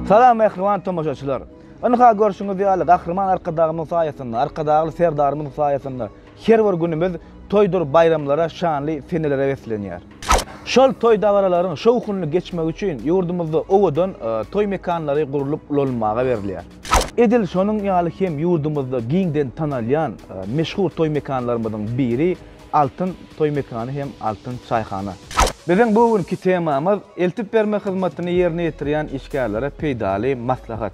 Salam mähriban tomaşaçylar! Ynha görşüňiz ýaly Gahryman Arkadagymyň saýasynda, Arkadagly Serdarymyzyň saýasynda her bir günümiz toýdur baýramlara, şanly senelere beslenýär. Şol toý-dabaralaryň şowhunly geçmegi üçin ýurdumyzda owadan toý mekanlary gurlup ulanylmaga berilýär. Edil şonuň ýaly hem ýurdumyzda giňden tanalýan meşhur toý mekanlarymyzyň biri Altyn toý mekany hem altyn çaýhana. Biziň bu günki temamyz, eltip berme hyzmatyny ýerine ýetirýän işgärlere peýdaly maslahat.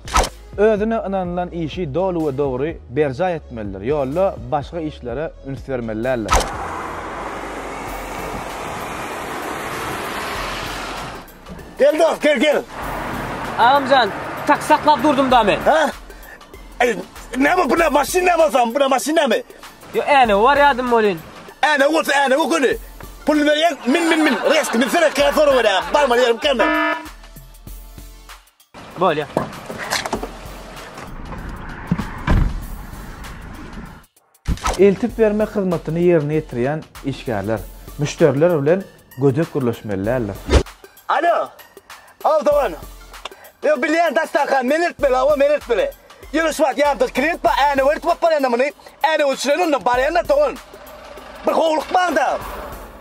Özüne ynanylan işi doly we dogry berjaý etmelidir, ýolda başga işlere üns bermeli däldir. Gel dost, gel, gel. Agamjan, taksi saklap durdum da men. Hä? Ey, näme bu ne maşyn näme bolsam, bu ne maşyn näme? Yo änewi bar ýadym bolyn. Änewi bolsa änewi göni. Puluny berýäň, min min min, reski binsene kä sorag berýäň, barmaly ýerim kä men. Bolýa. Eltip bermek hyzmatyny ýerine ýetirýän işgärler müşderiler bilen gödek gürleşmeli däldir. Alo! How doan! Yo bilýän dastanka men eltmeli hawa men eltmeli. Ýöne şu wagt ýanymda klient bar änewerdi bolup barýanda muny änew öçüren ondan barýanda dogan. Bir howlukmaňda.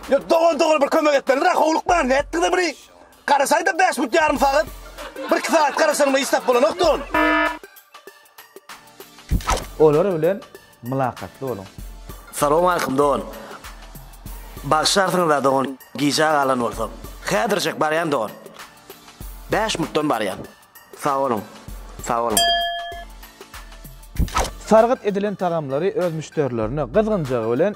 Yo dogan dogan bir kömek etmelidir howlukmaň nätdiňiz muny. Garaşaýda bäş minut ýarym sagat. Bir iki sagat garaşanyma hiç zat bolanok dogan. Olar bilen mylakatly boluň. Salowmaleýkum dogan. Bagyşlarsyňyzda dogan gijä galan bolsam. Häzirjek barýan dogan. Bäş minutdan barýan. Sag boluň. Sag boluň. Sargyt edilen tagamlary öz müşderilerine gyzgynjagy bilen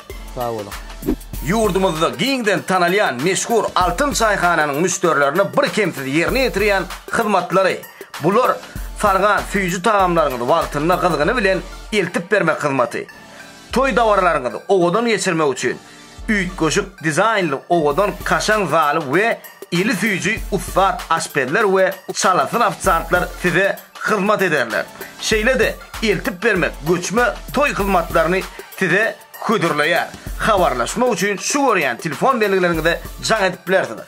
Sag boluň! Ýurdumyzda giňden tanalýan meşhur Altyn çaýhananyň müşderilerine birkemsiz ýerine ýetirýän hyzmatlary, bular sargan süýji tagamlaryňyzy wagtynda gyzgyny bilen eltip bermek hyzmaty, toý dabaralaryňyzy owadan geçirmek üçin üýtgeşik dizaýnly owadan kaşaň zaly we eli süýji ussat aşpezler we çalasyn ofisiantlar size hyzmat ederler. Şeýle-de eltip bermek göçme toý hyzmatlaryny size hödürleýär. Habarlaşmak üçin şu görýän telefon belgileriňize jaň edip bilersiňiz.